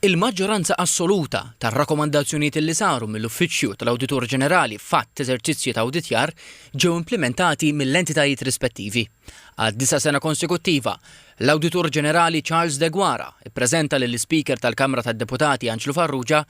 Il-maġġoranza assoluta tar-rakkomandazzjonijiet li saru mill-Uffiċċju tal-Awditur Ġenerali f'għadd eżerċizzji ta' awditjar ġew implimentati mill-entitajiet rispettivi. Għad-disa' sena konsekuttiva, l-Awditur Ġenerali Charles Deguara ppreżenta lill-Ispeaker tal-Kamra tad-Deputati Anġlu Farrugia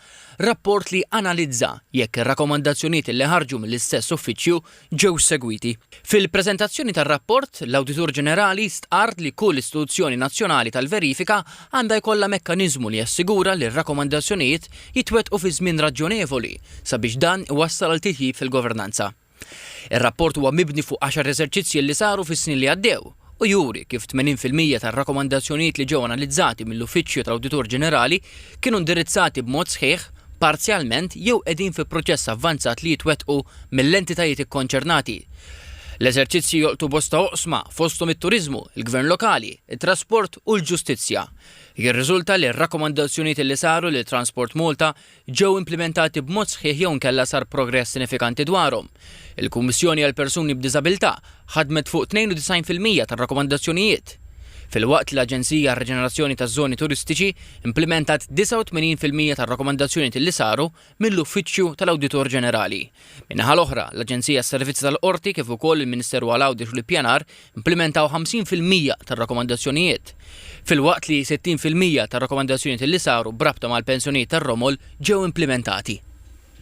rapport li analizza jekk ir-rakkomandazzjonijiet li ħarġu mill-istess Uffiċċju ġew segwiti. Fil-preżentazzjoni tar-rapport, l-Awditur Ġenerali stqarr li kull istituzzjoni nazzjonali tal-verifika għandha jkollha mekkaniżmu li jassigura li r-rakkomandazzjonijiet jitwettqu fi żmien raġjonevoli sabiex dan iwassal għal titjib fil-governanza. Ir-rapport huwa mibni fuq għaxar eżerċizzji li saru fis-snin li għaddew. u juri kif 80 fil-mija tar-rakkomandazzjonijiet li ġew analizzati mill-Uffiċċju tal-Awditur Ġenerali kienu indirizzati b'mod sħiħ, parzjalment jew qegħdin fi proċess avvanzat li jitwettqu mill-entitajiet ikkonċernati. L-eżerċizzji jolqtu bosta oqsma, fosthom it-turiżmu, il-gvern lokali, it-trasport u l-ġustizzja. Jirriżulta li r-rakkomandazzjonijiet li saru lil Transport Malta ġew implimentati b'mod sħiħ jew inkella sar progress sinifikanti dwarhom. Il-Kummissjoni għall-Persuni b'Diżabilità ħadmet fuq 92 fil-mija tar-rakkomandazzjonijiet, filwaqt li l-Aġenzija għar-Riġenerazzjoni taż-Żoni Turistiċi implimentat 89 fil-mija tar-rakkomandazzjonijiet li saru mill-Uffiċċju tal-Awditur Ġenerali. Min-naħa l-oħra, l-Aġenzija għas-Servizzi tal-Qorti kif ukoll il-Ministeru għal Għawdex u l-Ippjanar implimentaw 50 fil-mija tar-rakkomandazzjonijiet, filwaqt li 60 fil-mija tar-rakkomandazzjonijiet li saru b'rabta mal-pensjonijiet tar-romol ġew implimentati.